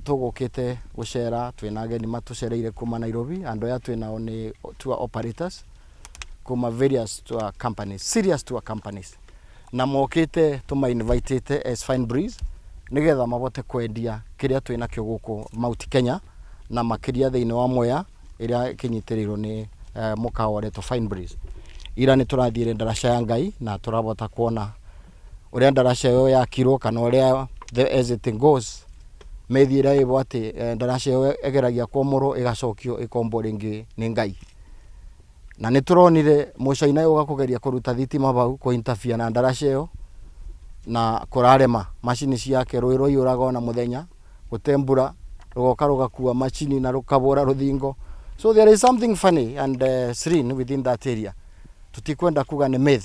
Tũgũkĩte gũcera twĩna ageni matũcereire kuma Nairobi. Andũ aya twĩ nao nĩ tour operators kuma various tour companies, serious tour companies. Na mokĩte tũma invite ĩte as Fine Breeze nĩgetha mabote kwendia kĩrĩa twĩ nakĩo gũkũ Mount Kenya na makĩria thĩinĩ wa Mwea ĩrĩa ĩkĩnyitĩrĩirwo nĩ mũkawa ũretwo Fine Breeze. Ira nĩ tũrathiĩre ndaraca ya Ngai na tũrabota kuona... ũrĩa ndaraca ĩyo yakirwo kana ũrĩa the as it goes mĩthiĩre ĩbo atĩ eh, ndaraca ĩyo ĩgeragia kwomorwo ĩgacokio ĩkombwo rĩngĩ nĩ ngai na nĩ tũronire mũcaina ũyũ ũgakũgeria kũruta thitima bau kũintafia na ndaraca ĩyo na kũrarema macini ciake rũĩ rwaiyũraga ona mũthenya gũte mbura rũgoka rũgakua macini na rũkabũra rũthingo so there is something funny and uh, srin within that area tũtikwenda kuga nĩ myth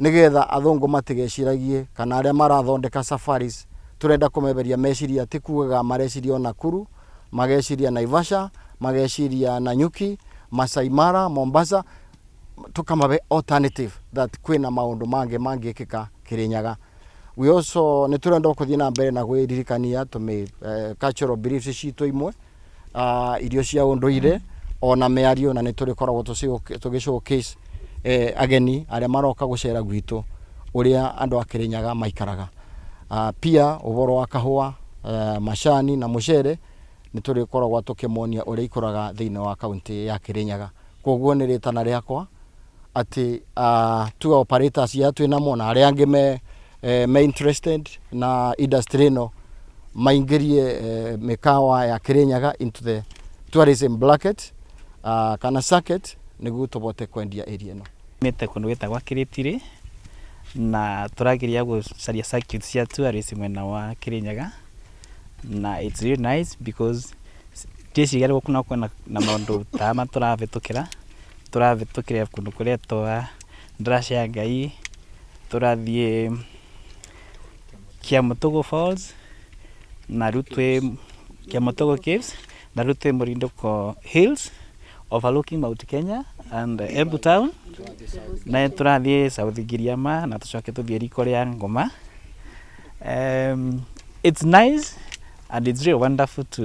nĩgetha athũngũ matigeciragie kana arĩa marathondeka safaris tũrenda kũmeberia meciria ti kugaga mareciria o Nakuru, mageciria Naivasha, mageciria Nanyuki, Masai Mara, Mombasa, tũkamabe alternative that kwĩna maũndũ mangĩ mangĩkĩka Kĩrĩnyaga. We also nĩ tũrenda kũthiĩ na mbere na gwĩririkania tũmĩ eh, cultural beliefs citũ imwe ah, irio cia ũndũire ona mĩario na nĩ tũrĩkoragwo tũcĩ- tũgĩshowcase eh, ageni arĩa maroka gũcera gwitũ ũrĩa andũ a Kĩrĩnyaga maikaraga Ah, pia ũhoro wa kahũa eh, macani na mũcere nĩ tũrĩkoragwo tũkĩmonia ũrĩa ikũraga thĩinĩ wa kaunti ya Kĩrĩnyaga koguo nĩ rĩtana rĩakwa atĩ ah, tuge operators ya twĩ namo na arĩa angĩ me eh, me interested na industry ĩno maingĩrie eh, mĩkawa ya Kirinyaga into the tourism bracket uh, kana circuit nĩguo tũbote kwendia area ĩno mĩte kũndũ gwĩtagwa kĩrĩtirĩ na tũrageria gũcaria circuit cia tourism mwena wa kĩrĩnyaga na it's really nice because ndĩciria rĩu kuna kwena na maũndũ ta ma tũrahĩtũkĩra tũrahĩtũkĩra kũndũ kũrĩa twa Ndaraca ya Ngai, tũrathiĩ Kĩamũtũgũ Falls, na rĩu twĩ Kĩamũtũgũ Caves, na rĩu twĩ Mũrindũko Hills, overlooking Mount Kenya and Embu Town, na nĩ tũrathiĩ South Giriama na tũcoke tũthiĩ riko rĩa Ngoma. It's nice and it's really wonderful to